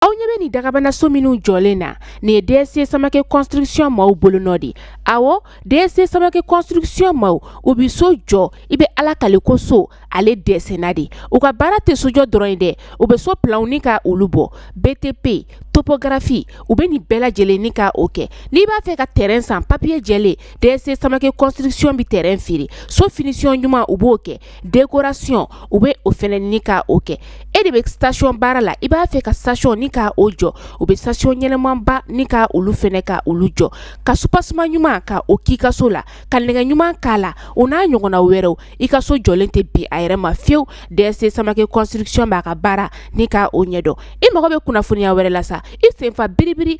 Aw ɲɛ bɛ nin dagabana so minnu jɔlen na nin ye DSC Samake construction maaw bolonɔ de awɔ DSC Samake construction maaw u bɛ so jɔ i bɛ ala kali ko so ale dɛsɛnna de u ka baara tɛ sojɔ dɔrɔn ye dɛ u bɛ so planw ni ka olu bɔ BTP topographie u bɛ nin bɛɛ lajɛlen ni ka o kɛ n'i b'a fɛ ka tɛrɛn san papiye jɛlen DSC Samake construction bɛ tɛrɛn feere so finition ɲuman u b'o kɛ décoration u bɛ o fana ni k' o kɛ e de bɛ station baara la i b'a fɛ ka station ni k' o jɔ u bɛ station ɲɛnamanba ni k' olu fana ka olu jɔ ka soubassement ɲuman ka o k'i ka so la ka nɛgɛ ɲuman k'a la o n'a ɲɔgɔnna wɛrɛw i ka so jɔlen tɛ bin a yɛrɛ ma fiyewu DSC Samake construction b'a ka baara ni k' o ɲɛdɔn i mago bɛ kunnafoniya wɛrɛ la sa i sen fa biribiri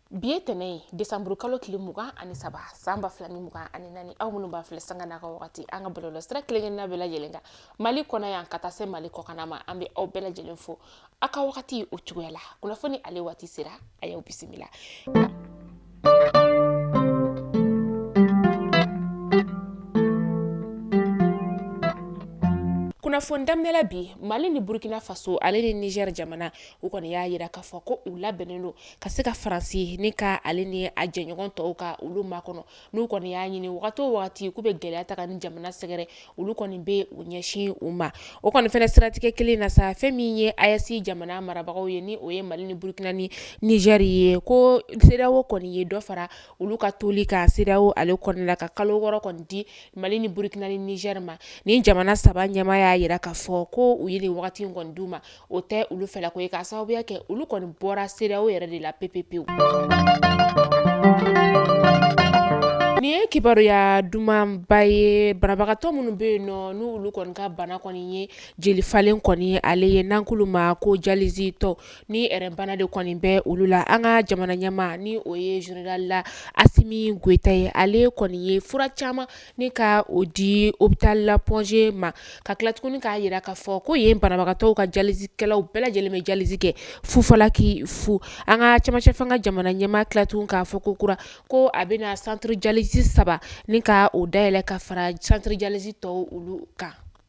bi ye tɛnɛ ye desanburu kalo tile mugan ani saba san ba fila ni mugan ani naani aw minnu b'a filɛ sanga n'a ka wagati an ka bɔlɔlɔ sira kelenkelenna bɛɛ lajɛlen kan mali kɔnɔ yan ka taa se mali kɔkanna ma an bɛ aw bɛɛ lajɛlen fo aw ka wagati o cogoya la kunnafoni ale waati sera a y'aw bisimila kunnafoni daminɛla bi mali ni burkina faso ale ni niger jamana u kɔni y'a jira k'a fɔ ko u labɛnnen don ka se ka faransi ni ka ale ni a jɛɲɔgɔn tɔw ka olu makɔnɔ n'u kɔni y'a ɲini wagati o wagati k'u bɛ gɛlɛya ta ka nin jamana sɛgɛrɛ olu kɔni bɛ u ɲɛsin u ma o kɔni fana siratigɛ kelen na sa fɛn min ye AES jamana marabagaw ye ni o ye mali ni burukina ni niger ye ko CEDEAO kɔni ye dɔ fara olu ka toli kan CEDEAO ale kɔni la ka kalo wɔɔrɔ kɔni di mali ni burukina ni niger ma nin jamana saba ɲɛmaa y'a jira k'a fɔ ko u ye nin wagati in kɔni d' u ma o tɛ olu fɛla ko ye k'a sababuya kɛ olu kɔni bɔra CEDEAO yɛrɛ de la pepepewu nin ye kibaruyaya dumanba ye banabagatɔ minnu bɛ yen nɔ n' olu kɔni ka bana kɔni ye jeli falen kɔni ale ye n'an k'olu ma ko dialysetɔ ni rein bana de kɔni bɛ olu la an ka jamana ɲɛmaa ni o ye général la Assimi Goïta ye ale kɔni ye fura caman Ni ka o di hôpital la Point G ma ka tila tugun k'a jira k'a fɔ ko yen banabagatɔw ka dialysekɛlaw bɛɛ lajɛlen bɛ dialyse kɛ fu falaki fu an ka camancɛ fanga ka jamana ɲɛmaa tila tugun k'a fɔ kokura ko a bɛna centre dialyse saba ni ka o dayɛlɛ ka fara centre dialyse tɔw olu kan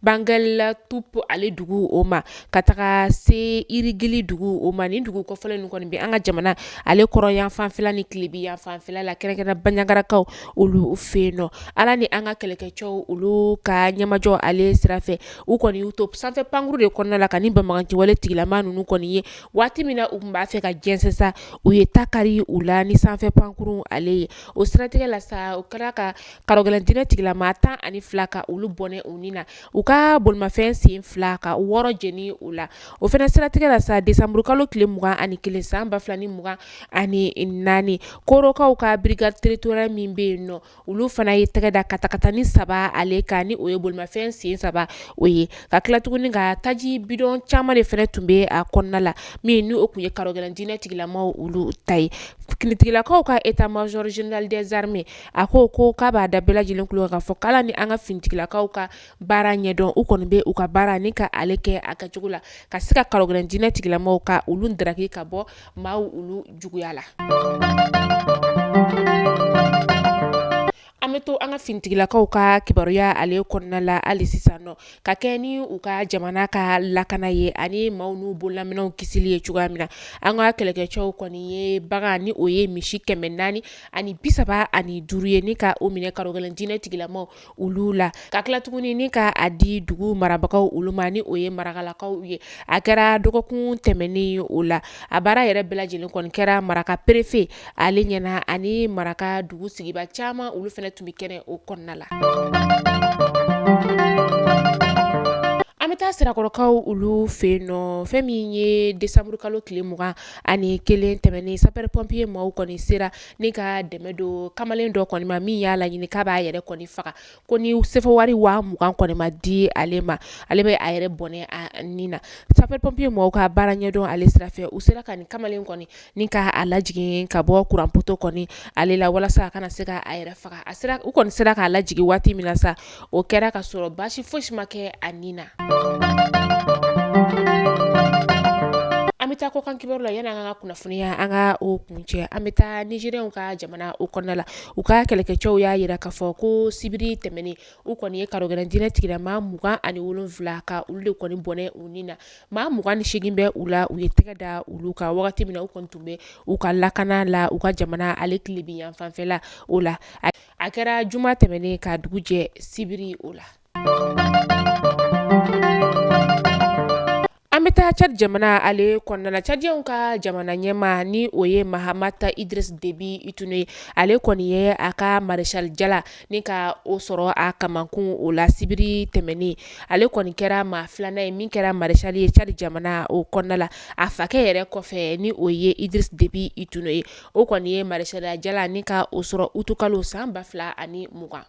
Banguel Toupé ale dugu o ma ka taga se yirigili dugu o ma nin dugu kofɔlen ninnu kɔni bɛ an ka jamana ale kɔrɔn yanfanfɛla ni tilebin yanfanfɛla la kɛrɛnkɛrɛn baɲagarakaw olu fɛ yen nɔ ala ni an ka kɛlɛkɛcɛw olu ka ɲɛmajɔ ale sira fɛ u kɔni y'u to sanfɛ pankurun de kɔnɔna la ka nin banbaganciwale tigilama ninnu kɔni ye waati min na u tun b'a fɛ ka jɛnsɛn sa u ye ta kari u la ni sanfɛ pankurun ale ye o siratigɛ la sa u kɛra kan kalogɛlɛn diinɛ tigila maa tan ani fila ka olu bɔnɛ u ni na u ka bolimafɛn sen fila ka wɔɔrɔ jeni u la o fana siratigɛ la sa desanburukalo tile mugan ani kelen san ba fila ni mugan ani naani korokaw ka brigade territoriale min bɛ yen nɔ olu fana ye tɛgɛ da katakatani saba ale kan ni o ye bolimafɛn sen saba o ye ka tila tuguni ka taji bidɔn caman de fana tun bɛ a kɔnɔna la min n' o tun ye kalogɛlɛn diinɛ tigilamaw olu ta ye finitigilakaw ka état major général des armées a ko ko k'a b'a da bɛɛ lajɛlen kulo k'a fɔ k'ala ni an ka finitigilakaw ka baara ɲɛdɔn u kɔni bɛ u ka baara ni ka ale kɛ a kɛcogo la ka se ka kalogɛlɛn diinɛ tigilamaw ka olu daraki ka bɔ maaw olu juguya la an bɛ to an ka finitigilakaw ka kibaruya ale kɔnɔna la hali sisan nɔ ka kɛ ni u ka jamana ka lakana ye ani maaw n'u bololaminɛw kisili ye cogoya min na an ka kɛlɛkɛcɛw kɔni ye bagan ni o ye misi kɛmɛ naani ani bi saba ani duuru ye ni ka o minɛ kalogɛlɛn diinɛ tigilamaw olu la ka tila tuguni ni ka a di dugu marabagaw olu ma ni o ye marakalakaw ye a kɛra dɔgɔkun tɛmɛnen o la a baara yɛrɛ bɛɛ lajɛlen kɔni kɛra maraka perefe ale ɲɛna ani maraka dugu sigiba caman olu fɛnɛ tun bɛ kɛnɛ o kɔnɔna la an bɛ taa sirakɔrɔkaw olu fɛ yen nɔ fɛn min ye desanburukalo tile mugan ani kelen tɛmɛnen sapɛri pɔnpiye maaw kɔni sera ni ka dɛmɛ don kamalen dɔ kɔni ma min y'a laɲini k'a b'a yɛrɛ kɔni faga ko ni sefa wari waa mugan kɔni ma di ale ma ale bɛ a yɛrɛ bɔnɛ a ni na sapɛri pɔnpiye maaw ka baara ɲɛdɔn ale sira fɛ u sera ka nin kamalen kɔni ni k' a lajigin ka bɔ kuranpoto kɔni ale la walasa a kana se k' a yɛrɛ faga u kɔni sera k'a lajigin waati min na sa o kɛra ka sɔrɔ baasi fosi ma kɛ a ni na an bɛ taa kɔkan kibaru la yani an ka kunnafoniya an ka o kuncɛ an bɛ taa nizɛriyɛnw ka jamana o kɔnɔna la u ka kɛlɛkɛcɛw y'a jira k'a fɔ ko sibiri tɛmɛnen u kɔni ye kalogɛlɛn diinɛ tigila maa mugan ani wolonwula ka olu de kɔni bɔnɛ u ni na maa mugan ni segin bɛ u la u ye tɛgɛ da olu kan wagati min na u kɔni tun bɛ u ka lakana la u ka jamana ale tilebin yanfanfɛla o la a kɛra juma tɛmɛnen ka dugu jɛ sibiri o la an bɛ taa cadi jamana ale kɔnɔna la cadiyɛnw ka jamana ɲɛmaa ni o ye mahamat idris debi itino ye ale kɔni ye a ka maresali jala ni ka o sɔrɔ a kamankun o la sibiri tɛmɛnen ale kɔni kɛra maa filanan ye min kɛra maresali ye cadi jamana o kɔnɔna la a fakɛ yɛrɛ kɔfɛ ni o ye idris debi itino ye o kɔni ye maresaliya jala ni ka o sɔrɔ utikalo san ba fila ani mugan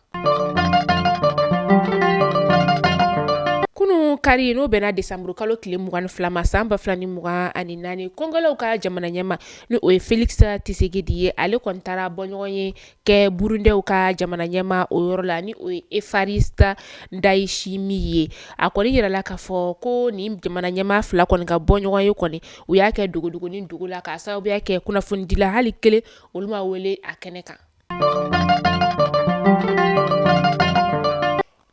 kunun kari n'o bɛnna desanburu kalo tile mugan ni fila ma san ba fila ni mugan ani naani kongolɛw ka jamana ɲɛmaa n' o ye felikisɛ cisekedi ye ale kɔni taara bɔɲɔgɔn ye kɛ burundɛw ka jamana ɲɛma o yɔrɔ la ni o ye evariste ndayishimiye ye a kɔni yirala k'a fɔ ko nin jamana ɲɛma fila kɔni ka bɔ ɲɔgɔn ye kɔni u y'a kɛ dogodogonin dogo la k'a sababuya kɛ kunnafonidila hali kelen olu ma wele a kɛnɛ kan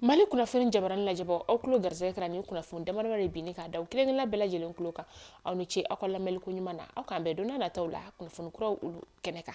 mali kunnafoni jabaranin lajɛbaw aw tulo garisɛgɛ kɛra nin kunnafoni damadama de bin k'a da aw kelen kelenna bɛɛ lajɛlen tulo kan aw ni ce aw ka lamɛnliko ɲuman na aw k'an bɛn don nataw la kunnafoni kuraw olu kɛnɛ kan